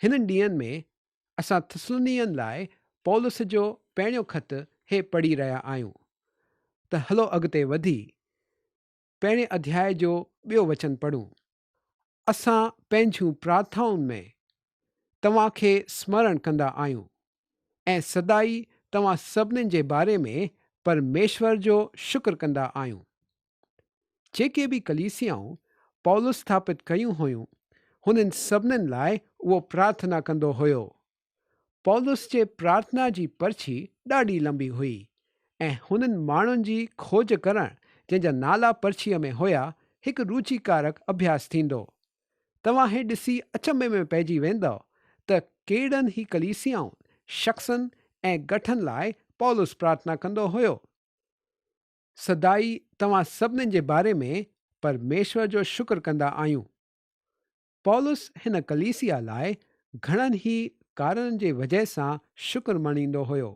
هنن ڏينهن ۾ اسان ٿسلنيين لاء پولس جو پهريون خط هي پڙهي رهيا آهيون ته هلو اڳتي وڌي پهرين اڌياء جو ٻيو وچن پڙهون. اسان پنهنجون پرارٿائن ۾ توهان کي سمرڻ ڪندا آهيون ۽ سدائي توهان سڀني جي باري ۾ پرميشور جو شڪر ڪندا آهيون. جيڪي به ڪليسيائون پولس ٿاپت ڪيون هيون، هنن سڀني لاء اهو پرارٿنا ڪندو هيو پولس جي پرارٿنا جي پرچي ڏاڍي لنبي هئي ۽ هنن ماڻهن جي کوج ڪرڻ جنهن جا نالا پرچيء ۾ هيا هڪ روچيڪارڪ اڀياس ٿيندو. توهان هي ڏسي اچنڀي ۾ پئجي ويندؤ ته ڪيڏن هي ڪليسيائن، شخصن ۽ ڳٺن لاء پولس پرارٿنا ڪندو هيو. سدائي توهان سڀني جي باري ۾ پرميشور جو شڪر ڪندا آهيون. پولس هن ڪليسيا لاء گهڻن هي ڪارڻن جي وجهه سان شڪر مڃيندو هيو.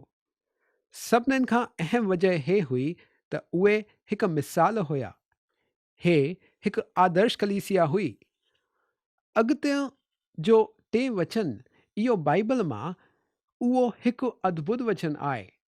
سڀنن کان اهم وجهه هي هئي ته اهي هڪ مثال هيا. هي هڪ آدرش ڪليسيا هئي. اڳتئن جو ٽئين وچن اهو بائيبل مان اهو هڪ ادڀت وچن آهي.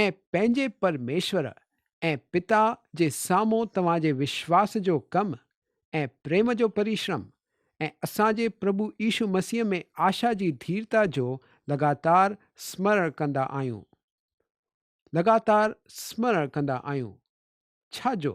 ۽ پنهنجي پرميشور ۽ پتا جي سامهون توهان جي وشواس جو ڪم ۽ پريم جو پريشرم ۽ اسان جي پرڀو عيشو مسيح ۾ آشا جي ڌيرتا جو لڳاتار سمرڻ ڪندا آهيون. لڳاتار سمرڻ ڪندا آهيون. ڇا جو؟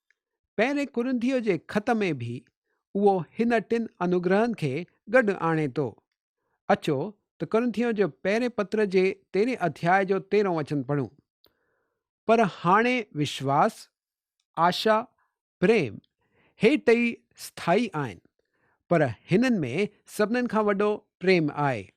پهرين ڪرنڌيء جي خط ۾ به اهو هن ٽن انوگرهن کي گڏ آڻي ٿو. اچو ته ڪرنٿيون جي پهرين پتر جي تيرهين اڌياء جو تيرهون وچن پڙهون. پر هاڻي وشواس، آشا، پريم، هي ٽئي اسٿائي آهن، پر هنن ۾ سڀنن کان وڏو پريم آهي.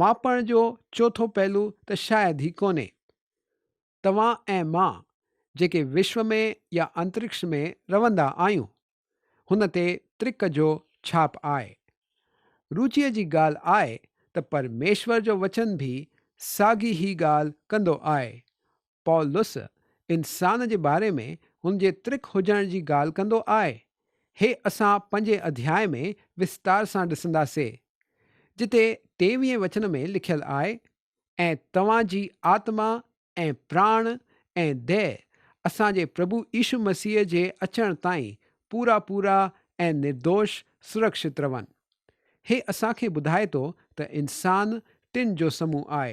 ماپڻ جو چوٿون پهلو ته شايد هي ڪونهي. توهان ۽ مان جيڪي وشو ۾ يا انترڪش ۾ روندا آهيون، هن تي ترڪ جو ڇاپ آهي. روچيء جي ڳالهه آهي ته پرميشور جو وچن به ساڳي هي ڳالهه ڪندو آهي، پولس انسان جي باري ۾ هن جي ترک هجڻ جي ڳالهه ڪندو آء، هي اسان پنجين اڌياء ۾ وستار سان ڏسندا سي، جتي ٽيويهين وچن ۾ لکيل آء، ۽ توهان جي آتما ۽ پراڻ ۽ ديهه اسان جي پرڀو عيشو مسيح جي اچڻ تائين پورا پورا ۽ نردوش سرڪشت رون. هي اسان کي ٻڌائي ٿو ته انسان ٽن جو سمون آء.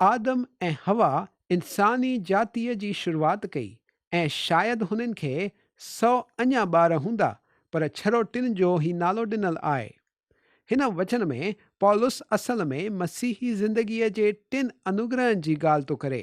آدم ۽ حوا انساني جاتيء جي شروعات ڪئي ۽ شايد هنن کي سؤ اڃا ٻار هوندا پر ڇرو ٽن جو هي نالو ڏنل آء. هن وچن ۾ پولس اصل ۾ مسيحي زندگيء جي ٽن انوگرهن جي ڳالهه ٿو ڪري.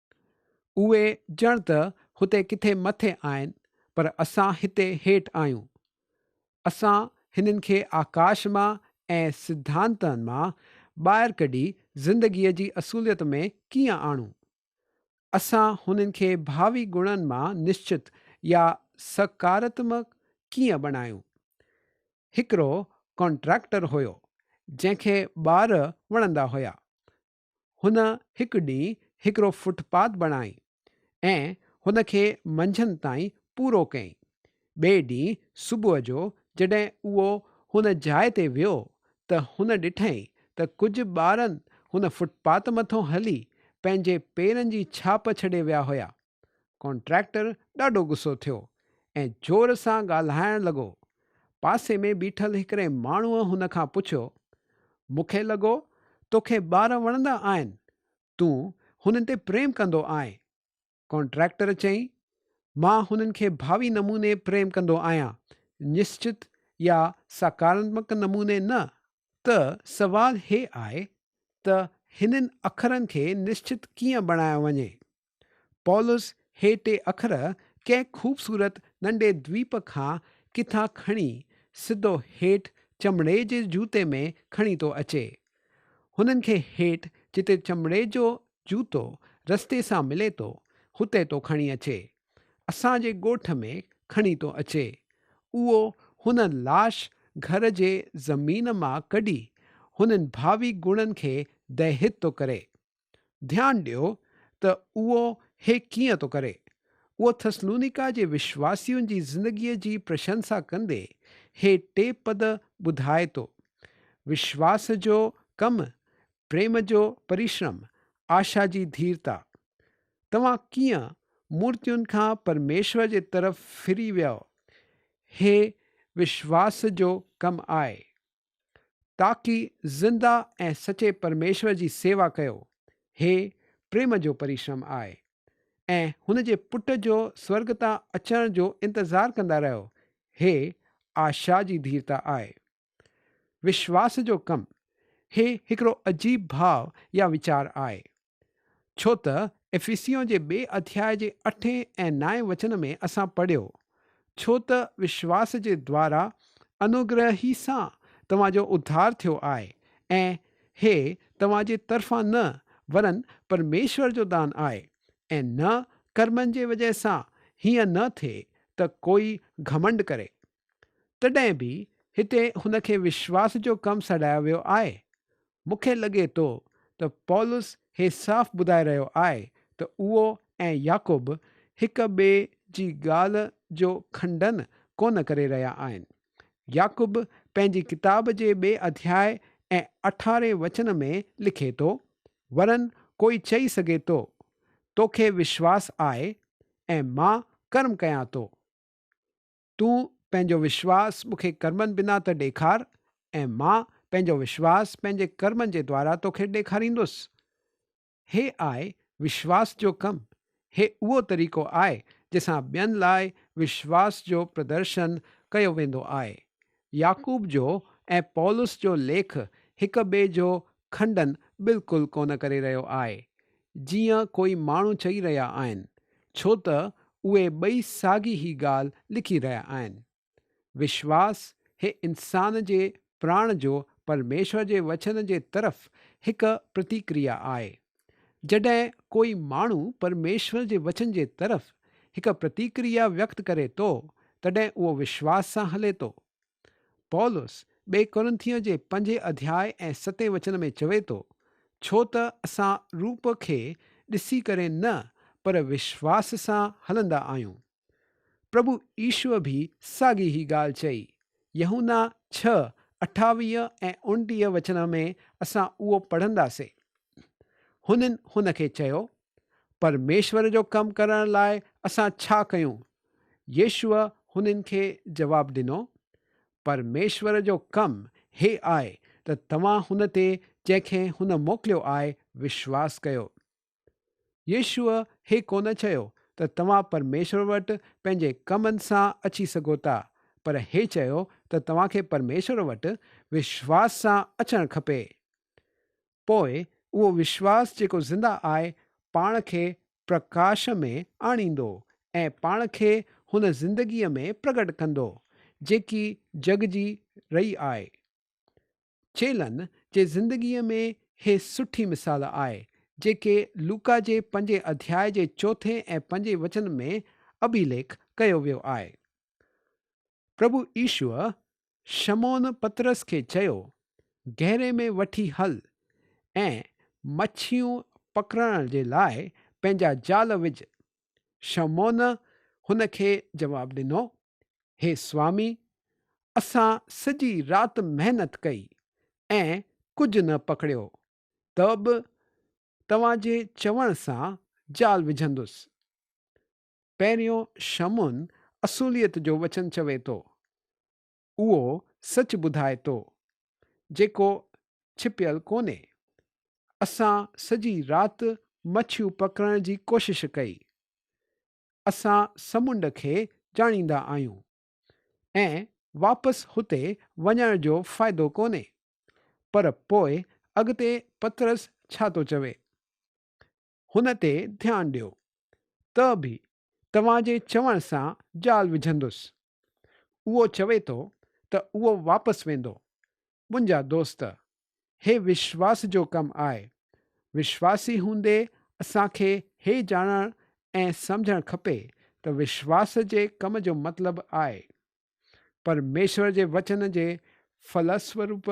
اهي ڄڻ ته هتي ڪٿي مٿي آهن پر اسان هتي هيٺ آهيون. اسان هنن کي آڪاش مان ۽ سڌانتن مان ٻاهر ڪڍي زندگيء جي اصوليت ۾ ڪيئن آڻون؟ اسان هنن کي ڀاوي گڻن مان نشچت يا سڪارتمڪ ڪيئن بڻايون؟ هڪڙو ڪانٽراڪٽر هيو، جنهن کي ٻار وڻندا هيا. هن هڪ ڏينهن هڪڙو فٽ پاٿ بڻائي ۽ هن کي منجهند تائين پورو ڪيائين. ٻئي ڏينهن صبح جو جڏهن اهو هن جاء تي ويو ته هن ڏٺائين ته ڪجهه ٻارن هن فٽ پاٿ مٿان هلي پنهنجي پيرن جي ڇاپ ڇڏي ويا هيا. ڪانٽريڪٽر ڏاڍو غصو ٿيو ۽ زور سان ڳالهائڻ لڳو. پاسي ۾ بيٺل هڪڙي ماڻهوء هن کان پڇيو، مون کي لڳو توکي ٻار وڻندا آهن، تون هنن تي پريم ڪندو آهين. ڪانٽريڪٽر چيائين، مان هنن کي ڀاوي نموني پريم ڪندو آهيان، نشچت يا ساڪاراتمڪ نموني نه. ته سوال هي آهي ته هنن اکرن کي نشچت ڪيئن بڻايو وڃي؟ پولس هي ٽي اکر ڪنهن خوبصورت ننڍي دويپ کان ڪٿان کڻي سڌو هيٺ چمڙي جي جوتي ۾ کڻي ٿو اچي. هنن کي هيٺ جتي چمڙي جو جوتو رستي سان ملي ٿو هتي ٿو کڻي اچي. اسان جي ڳوٺ ۾ کڻي ٿو اچي. اهو هن لاش گهر جي زمين مان ڪڍي هنن ڀاوي گڻن کي دهيت ٿو ڪري. ڌيان ڏيو ته اهو هي ڪيئن ٿو ڪري. اهو ٿسلونيڪا جي وشواسين جي زندگيء جي پرشنسا ڪندي هي ٽي پد ٻڌائي ٿو، وشواس جو ڪم، پريم جو پريشرم، آشا جي ڌيرتا. توهان ڪيئن مورتين کان پرميشور جي طرف ڦري ويئو، هي وشواس جو ڪم آهي. تاڪي زنده ۽ سچي پرميشور جي سيوا ڪيو، هي پريم جو پريشرم آهي ۽ هن جي پٽ جو سورگ تان اچڻ جو انتظار ڪندا رهيو، هي آشا جي ڌيرتا آهي. وشواس جو ڪم، هي هڪڙو عجيب ڀاء يا ويچار آهي. ڇو ته افيسيون جي ٻئي اڌياء جي اٺين ۽ نائين وچن ۾ اسان پڙهيو، ڇو ته وشواس جي دوارا انوگره هي سان توهان جو اڌار ٿيو آهي، ۽ هي توهان جي طرفان نه، ورن پرميشور جو دان آهي، ۽ نه ڪرمن جي وجهه سان، هيئن نه ٿئي ته ڪوئي گهمنڊ ڪري. تڏهن به هتي هن کي وشواس جو ڪم سڏايو ويو آهي. مون کي لڳي ٿو ته پولس هي صاف ٻڌائي رهيو آهي ته اهو ۽ يعقوب هڪ ٻئي جي ڳالهه جو کنڊن ڪونه ڪري رهيا آهن. يعقوب پنهنجي ڪتاب جي ٻئي اڌياء ۽ اٺارهين وچن ۾ لکي ٿو، ورن ڪوئي چئي سگهي ٿو، توکي وشواس آهي ۽ مان ڪرم ڪيان ٿو. تون پنهنجو وشواس مون کي ڪرمن بنا ته ڏيکار ۽ مان پنهنجو وشواس پنهنجي ڪرمن جي دوارا تو کي ڏيکاريندس. هي آء وشواس جو ڪم، هي اهو طريقو آء جنهن سان ٻين لاء وشواس جو پردرشن ڪيو ويندو آء. يعقوب جو ۽ پولس جو ليک هڪ ٻئي جو کنڊن بلڪل ڪونه ڪري رهيو آهي، جيئن ڪوئي ماڻهو چئي رهيا آهن، ڇو ته اهي ٻئي ساڳي هي ڳالهه لکي رهيا آهن. وشواس هي انسان جي پراڻ جو پرميشور جي وچن جي طرف هڪ پرتيڪريا آهي. جڏهن ڪوئي ماڻهو پرميشور جي وچن جي طرف هڪ پرتيڪريا ويڪت ڪري ٿو، تڏهن اهو وشواس سان هلي ٿو. پولس ٻئي ڪورنٿيء جي پنجين اڌياء ۽ ستين وچن ۾ چوي ٿو، ڇو ته اسان روپ کي ڏسي ڪري نه پر وشواس سان هلندا آهيون. پرڀو عيسوء به ساڳي هي ڳالهه چئي. يحنا ڇهه، اٺاويهه ۽ اڻٽيهه وچن ۾ اسان اهو پڙهنداسين. هنن هن کي چيو، پرميشور جو ڪم ڪرڻ لاء اسان ڇا ڪيون؟ يسوع هنن کي جواب ڏنو، پرميشور جو ڪم هي آهي ته توهان هن تي جنهن کي هن موڪليو آهي، وشواس ڪيو. يسوع هي ڪونه چيو ته توهان پرميشور وٽ پنهنجي ڪمن سان اچي سگهو ٿا، پر هي چيو ته توهان کي پرميشور وٽ وشواس سان اچڻ کپي. پوء اهو وشواس جيڪو زنده آء پاڻ کي پرڪاش ۾ آڻيندو ۽ پاڻ کي هن زندگيء ۾ پرگٽ ڪندو جيڪي جڳ جي رئي آء چيلن جي زندگيء ۾ هي سٺي مثال آء جيڪي لوڪا جي پنجين اڌياء جي چوٿين ۽ پنجين وچن ۾ اڀيليک ڪيو ويو آء. پرڀو عيسوء شمعون پطرس کي چيو، گهيري ۾ وٺي هل ۽ مڇيون پڪڙڻ جي لاء پنهنجا جال وجهه. شمعون هن کي جواب ڏنو، هي سوامي، اسان سڄي رات محنت ڪئي ۽ ڪجهه نه پڪڙيو، ته به توهان جي چوڻ سان جال وجهندس. پهريون شمعون اصوليت جو وچن چوي ٿو. اهو سچ ٻڌائي ٿو، جيڪو ڇپيل ڪونهي. اسان سڄي رات مڇيون پڪڙڻ جي ڪوشش ڪئي. اسان سمنڊ کي ڄاڻيندا آهيون ۽ واپس هتي وڃڻ جو فائدو ڪونهي. پر پوء اڳتي پطرس ڇا ٿو چوي؟ هن تي ڌيان ڏيو، ته به توهان جي چوڻ سان جال وجهندس. اهو چوي ٿو ته اهو واپس ويندو. منهنجا دوست، هي وشواس جو ڪم آهي. وشواسي هوندي اسان کي هي ڄاڻڻ ۽ سمجهڻ کپي ته وشواس جي ڪم جو مطلب آهي، پرميشور جي وچن جي فلسوروپ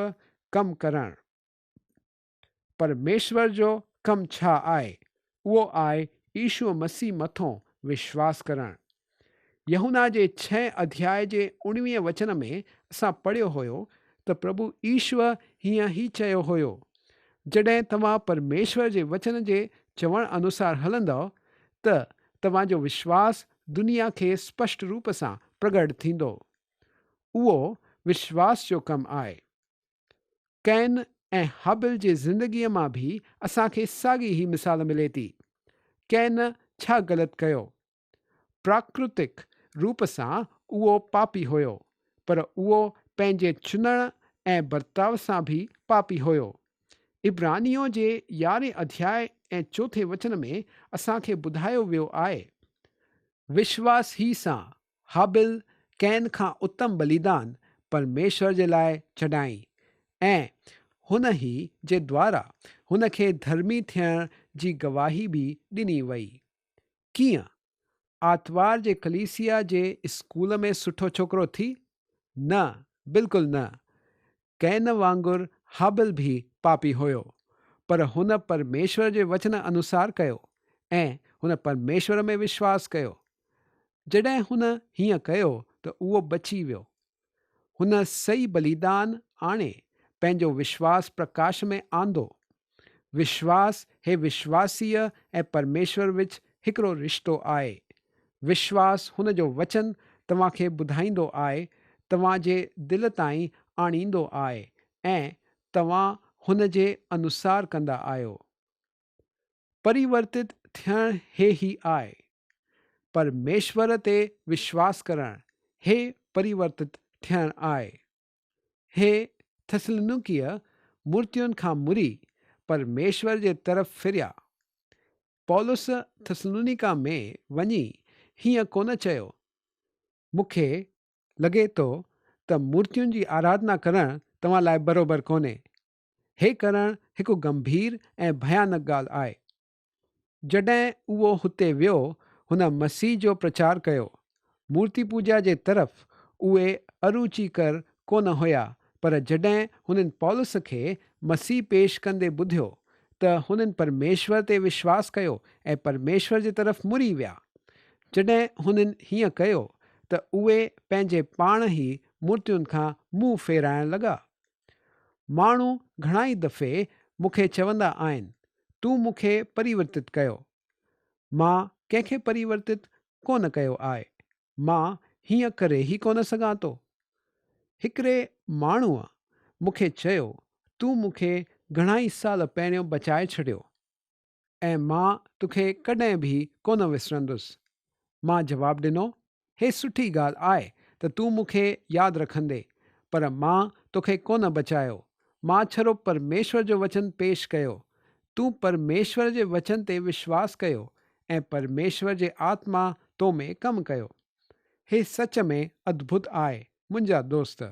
ڪم ڪرڻ. پرميشور جو ڪم ڇا آهي؟ اهو آهي عيشوء مسيح مٿون وشواس ڪرڻ. يحنا جي ڇهين اڌياء جي اڻويهين وچن ۾ اسان پڙهيو هيو ته پرڀو عيشوء هيئن ئي چيو هيو، جڏهن توهان پرميشور جي وچن جي چوڻ انوسار هلندؤ ته توهان جو وشواس دنيا کي اسپشٽ روپ سان پرگهٽ ٿيندو. اهو وشواس جو ڪم آهي. ڪئن ۽ هابل جي زندگيء مان به اسان کي ساڳي هي مثال ملي ٿي. ڪئن ڇا غلط ڪيو؟ پراڪرتڪ روپ سان اهو پاپي هيو، پر اهو پنهنجي چونڙ ۽ برتاء سان به پاپي هيو. عبرانيون جي يارهين اڌياء ۽ چوٿين وچن ۾ اسان کي ٻڌايو ويو آهي. وشواس هي سان هابيل قين کان اتم بليدان پرميشور جي لاء چڏائين ۽ هن ئي جي دوارا هن کي ڌرمي ٿيڻ جي گواهي به ڏني وئي. ڪيئن؟ آتوار جي ڪليسيا جي اسڪول ۾ سٺو ڇوڪرو ٿي؟ نه، بلڪل نه. ڪئن وانگر هابل به پاپي هيو، پر هن پرميشور جي وچن انوسار ڪيو، ۽ هن پرميشور ۾ وشواس ڪيو. جڏهن هن هيئن ڪيو ته اهو بچي ويو. هن سئي بليدان آڻي پنهنجو وشواس پرڪاش ۾ آندو. وشواس هي وشواسيء ۽ پرميشور وچ هڪڙو رشتو آهي. وشواس هن جو وچن توهان کي ٻڌائيندو آهي، توهان جي دل تائين آڻيندو آهي ۽ توهان هن جي انوسار ڪندا آهيو. پريورتت ٿيڻ هي هي آهي. پرميشور تي وشواس ڪرڻ، هي پريورتت ٿيڻ آهي. هي ٿسلنڪيء مورتين کان مري پرميشور جي طرف ڦريا. پولس ٿسلونيڪا ۾ وڃي هيئن ڪونه چيو، مون کي لڳي ٿو ته مورتين جي آراڌنا ڪرڻ توهان لاء بروبر ڪونهي. هي ڪرڻ هڪ گنڀير ۽ ڀيانڪ ڳالهه آهي. جڏهن اهو هتي ويو، هن مسيح جو پرچار ڪيو. مورتي پوڄا جي طرف اهي اروچيڪر ڪونه هيا، پر جڏهن هنن پولس کي مسيح پيش ڪندي ٻڌيو، ته هنن پرميشور تي وشواس ڪيو ۽ پرميشور جي طرف مڙي ويا. جڏهن هنن هيئن ڪيو، ته اهي پنهنجي پاڻ ئي مورتين کان منهن ڦيرائڻ لڳا. ماڻهو گهڻائي دفعي مون کي چوندا آهن تون مون کي پريورتت ڪيو. مان ڪنهن کي پريورتت ڪو نه ڪيو آء. مان هيئن ڪري ئي ڪو نه سگهان ٿو. هڪڙي ماڻهوء مون کي چيو تون مون کي گهڻائي سال پهريون بچائي ڇڏيو. ۽ مان توکي ڪڏهن به ڪونه وسرندس. مان جواب ڏنو، هي سٺي ڳالهه آء ته تون مون کي ياد رکندين، پر مان توکي ڪونه بچايو. مان ڇرو پرميشور جو وچن پيش ڪيو. تون پرميشور جي وچن تي وشواس ڪيو ۽ پرميشور جي آتما تو ۾ ڪم ڪيو. هي سچ ۾ ادڀت آء، منهنجا دوست.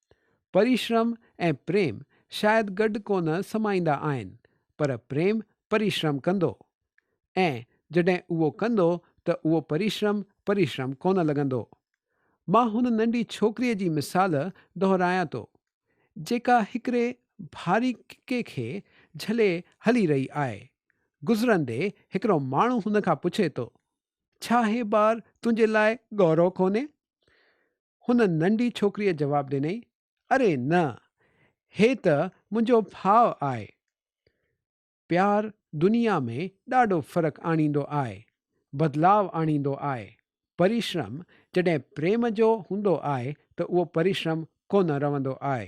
پريشرم ۽ پريم شايد گڏ ڪونه سمائيندا آهن پر پريم پريشرم ڪندو ۽ جڏهن اهو ڪندو ته اهو پريشرم پريشرم ڪونه لڳندو. مان هن ننڍي ڇوڪريء جي مثال دهرايان ٿو جيڪا هڪڙي ڀاري ڪڪي کي جهلي هلي رهي آهي. گذرندي هڪڙو ماڻهو هن کان پڇي ٿو، ڇا هي بار تنهنجي لاء ڳورو ڪونهي؟ هن ننڍي ڇوڪريء جواب ڏنئي، اري نه! هي ته منهنجو ڀاء آهي. پيار دنيا ۾ ڏاڍو فرق آڻيندو آهي، بدلاء آڻيندو آهي. پريشرم جڏهن پريم جو هوندو آهي ته اهو پريشرم ڪونه رهندو آهي.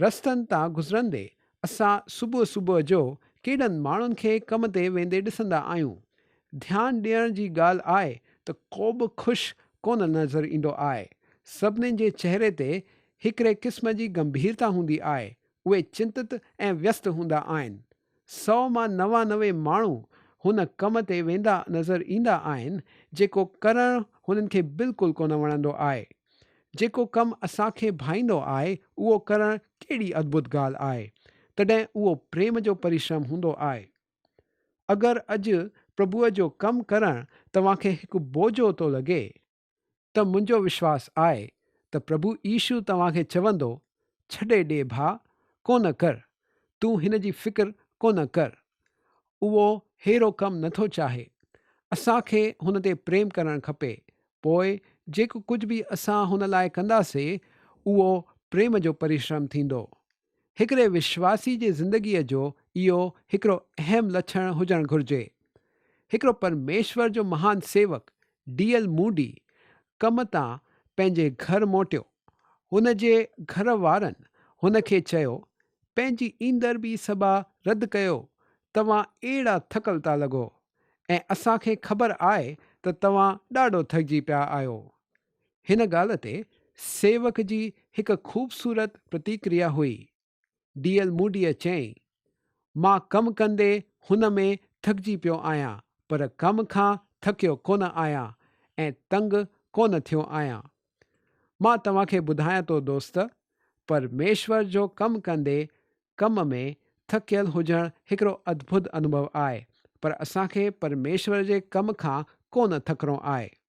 رستن تان گذرندي اسان صبح صبح جو ڪيڏن ماڻهن کي ڪم تي ويندي ڏسندا آهيون. ڌيان ڏيڻ جي ڳالهه آهي ته ڪوبه خوش ڪونه نظر ايندو آهي. سڀني جي چهري تي هڪڙي قسم جي گنڀيرتا هوندي آهي. اهي چنتت ۽ ويست هوندا آهن. سؤ مان نوانوي ماڻهو هن ڪم تي ويندا نظر ايندا آهن جيڪو ڪرڻ هنن کي بلڪل ڪونه وڻندو آهي. جيڪو ڪم اسان کي ڀائيندو آهي اهو ڪرڻ ڪهڙي ادڀت ڳالهه آهي. تڏهن اهو پريم جو پريشرم هوندو آهي. اگر اڄ پرڀوء جو ڪم ڪرڻ توهان کي هڪ بوجهو ٿو لڳي، ته منهنجو وشواس آء ته پرڀو عيشو توهان کي چوندو، ڇڏي ڏي ڀاء، ڪونه ڪر، تون هن جي فڪر ڪونه ڪر، اهو ههڙو ڪم نٿو چاهي. اسان کي هن تي پريم ڪرڻ کپي، پوء جيڪو ڪجهه به اسان هن لاء ڪنداسي، اهو پريم جو پريشرم ٿيندو. هڪڙي وشواسي جي زندگيء جو اهو هڪڙو اهم لڇڻ هجڻ گهرجي. هڪڙو پرميشور جو مهان سيوڪ ڊي ايل موڊي ڪم تان پنهنجي گهر موٽيو. هن جي گهر وارن هن کي چيو، پنهنجي ايندر بي سبا رد ڪيو، توهان اهڙا ٿڪل ٿا لڳو ۽ اسان کي خبر آهي ته توهان ڏاڍو ٿڪجي پيا آهيو. هن ڳالهه تي سيوڪ جي هڪ خوبصورت پرتيڪريا هئي. ڊي ايل موڊيء چيائين، مان ڪم ڪندي هن ۾ ٿڪجي پيو آهيان، پر ڪم کان ٿڪيو ڪونه آهيان ۽ تنگ ڪونه ٿيو آهيان. مان توهان کي ٻڌايان ٿو دوست، پرميشور جو ڪم ڪندي ڪم ۾ ٿڪيل هجڻ هڪڙو اڌڀت انوڀو آهي، پر اسان کي پرميشور جي ڪم کان ڪونه ٿڪڻو آهي.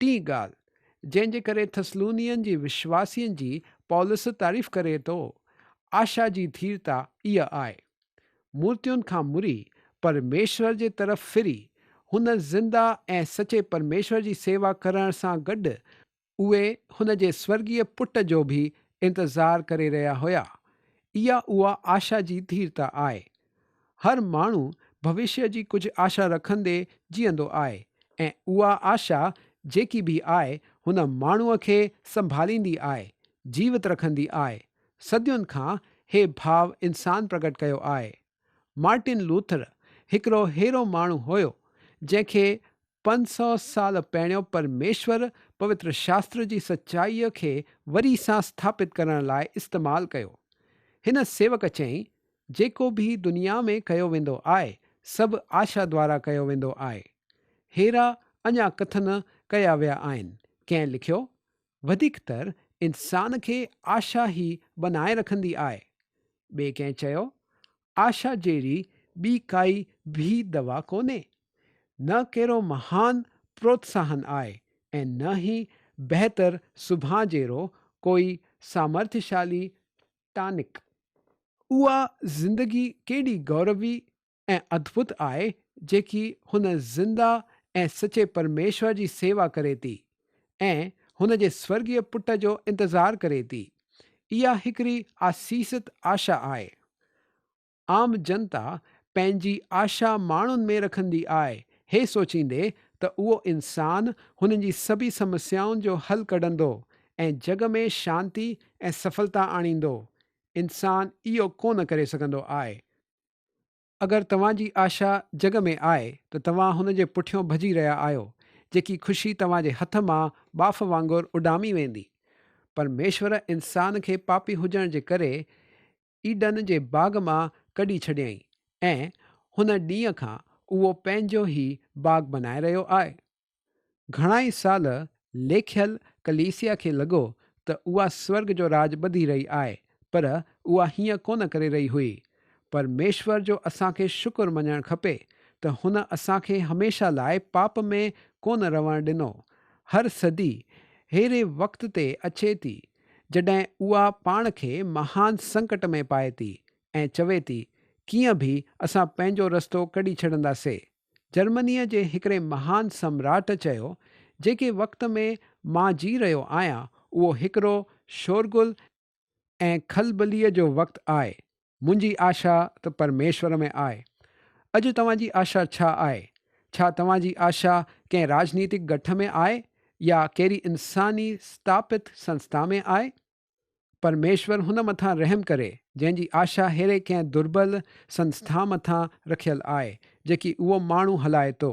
ٽين ڳالهه، جنهن جي ڪري ٿسلونين جي وشواسين جي پولس تعريف ڪري ٿو، آشا جي ڌيرتا اها آهي. مورتين کان مري، پرميشور جي طرف ڦري، هن زنده ۽ سچي پرميشور جي سيوا ڪرڻ سان گڏ، اهي هن جي سورڳيه پٽ جو به انتظار ڪري رهيا هيا. اها اها آشا جي ڌيرتا آهي، هر ماڻهو ڀوشيء جي ڪجهه آشا رکندي جيئندو آهي ۽ اها آشا جيڪي به آهي هن ماڻهوء کي سنڀاليندي آهي، جيوت رکندي آهي. صدين کان هي ڀاء انسان پرگٽ ڪيو آهي. مارٽن لوٿر هڪڙو ههڙو ماڻهو هيو جنهن کي پنج سؤ سال پهريون پرميشور پوتر شاستر جي سچائيء کي وري سان سٿاپت ڪرڻ لاء استعمال ڪيو. هن سيوڪ چيائين جيڪو به دنيا ۾ ڪيو ويندو آهي، سڀ آشا دوارا ڪيو ويندو آهي. هيرا اڃا ڪٿ نه ڪيا ويا آهن. ڪنهن لکيو، وڌيڪ تر انسان کي آشا ئي ٻنهائي رکندي آهي. ٻئي ڪنهن چيو، آشا جهڙي ٻي ڪائي به دوا ڪونهي. نه ڪهڙو مهان پروتساهن آهي ۽ نه ئي بهتر سڀان جهڙو ڪوئي سامرٿشالي ٽانڪ. اها زندگي ڪيڏي گوربي ۽ ادڀت آهي جيڪي هن زنده ۽ سچي پرميشور جي سيوا ڪري ٿي ۽ هن جي سورڳيه پٽ جو انتظار ڪري ٿي. اها هڪڙي آسيست آشا آهي. عام جنتا پنهنجي آشا ماڻهن ۾ رکندي آء هي سوچيندي ته اهو انسان هنن جي سڀي سمسيائن جو حل ڪڍندو ۽ جڳ ۾ شانتي ۽ سڦلتا آڻيندو، انسان اهو ڪو نه ڪري سگهندو آء. اگر توهان جي آشا جڳ ۾ آء ته توهان هن جي پٺيون ڀڄي رهيا آهيو، جيڪي خوشي توهان جي هٿ مان ٻاڦ وانگر اڏامي ويندي. پرميشور انسان کي پاپي هجڻ جي ڪري ايڊن جي باغ مان ڪڍي ڇڏيائين ۽ هن ڏينهن کان اهو پنهنجو هي باغ بنائي رهيو آهي. گهڻائي سال ليکيل ڪليسيا کي لڳو ته اها سورگ جو راڄ ٻڌي رهي آهي پر اها هيئن ڪونه ڪري رهي هئي. پرميشور جو اسان کي شڪر مڃڻ کپي ته هن اسان کي هميشه لاء پاپ ۾ ڪونه رهڻ ڏنو. هر صدي ههڙي وقت تي اچي ٿي جڏهن اها پاڻ کي مهان سنڪٽ ۾ پائي ٿي ۽ چوي ٿي ڪيئن به اسان پنهنجو رستو ڪڍي ڇڏندا سي. جرمنيء جي هڪڙي مهان سمراٽ چيو، جيڪي وقت ۾ مان جي رهيو آهيان اهو هڪڙو شورغل ۽ کلبليء جو وقت آهي، منهنجي آشا ته پرميشور ۾ آهي. اڄ توهان جي آشا ڇا آهي؟ ڇا توهان جي آشا ڪنهن راجنيتڪ ڳٺ ۾ آهي يا ڪهڙي انساني ستاپت سنسٿا ۾ آهي؟ پرميشور هن مٿان رحم ڪري جنهن جي آشا ههڙي ڪنهن دربل سنسٿا مٿان رکيل آهي جيڪي اهو ماڻهو هلائي ٿو.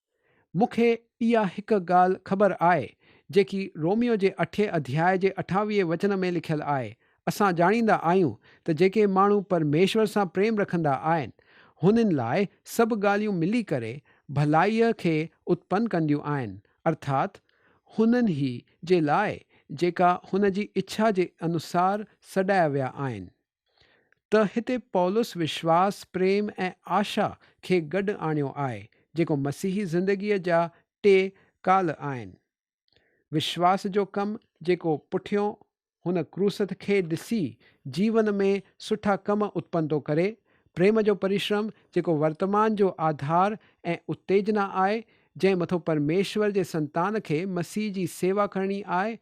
مون کي اها هڪ ڳالهه خبر آهي، جيڪي روميو جي اٺين اڌياء جي اٺاويهين وچن ۾ لکيل آهي، اسان ڄاڻيندا آهيون ته جيڪي ماڻهو پرميشور سان پريم رکندا آهن، هنن لاء سڀ ڳالهيون ملي ڪري ڀلائيء کي اتپن ڪنديون آهن، ارٿات هنن هي جي لاء، جيڪا هن جي اڇا جي انوسار سڏايا ويا آهن. ته هتي پولس وشواس، پريم ۽ آشا کي گڏ آڻيو آهي، جيڪو مسيحي زندگيء جا ٽي ڪال آهن. وشواس جو ڪم، جيڪو پٺيون هن ڪروسٿ کي ڏسي جيون ۾ سٺا ڪم اتپن ٿو ڪري، پريم جو پريشرم، جيڪو ورتمان جو آڌار ۽ اتيجنا آهي، جنهن مٿو پرميشور جي سنتان کي مسيح جي سيوا ڪرڻي آهي،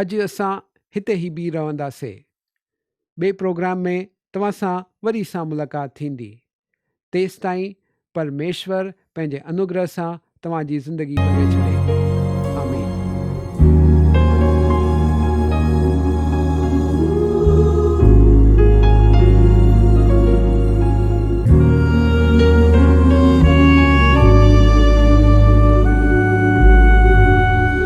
اڄ اسان هتي هي بي رهنداسي ٻي پروگرام ۾ توهان سان وري سان ملاقات ٿيندي تيستائين پر ميشور پنهنجي انوگره سان توهان جي زندگي ڀري ڇڏي